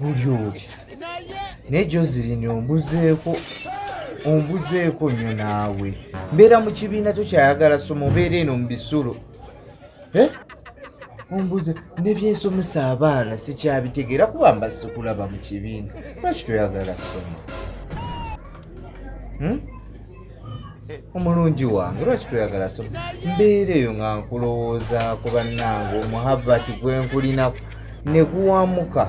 oli oli naye jozilini ombuzeeko ombuzeeko nnyo naawe mbeera mu kibiina tokyayagala soma obeera eno mu bisulo eh? ombuze nebyensomesa abaana sikyabitegeera kuba mba sikulaba mu kibiina lwaki toyagala soma hmm? omulungi wange lwaki toyagala so mbeera eyo nga nkulowooza ku bannange omuhabbati gwe nkulinaku ne guwamuka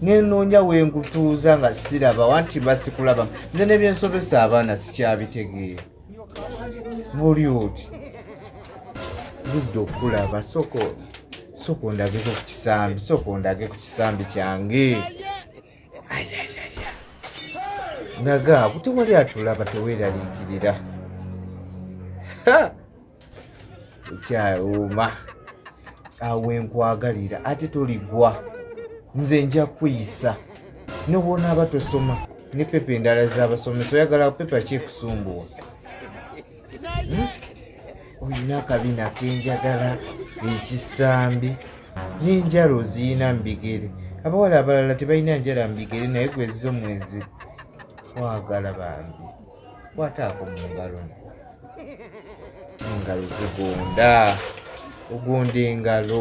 nenoonya wengutuuza nga siraba wanti basikulaba nze nebyensobesa abaana sikyabitegeera buli oti ludde okulaba soko soko ndageko ku kisambi soko ndage ku kisambi kyange naga kuti wali atulaba teweraliikirira ekyawuuma awe nkwagalira ate toligwa nze nja kuyisa nobwonaaba tosoma ne pepa endala zabasomesa oyagala pepa kyekusumbuwa olina akabina kenjagala ekisambi n'enjala oziyina mu bigere abawala abalala tebalina njala mu bigere naye gwezizo mwezi wagala bambi kwataako mu ngalo engalo zigonda ogonda engalo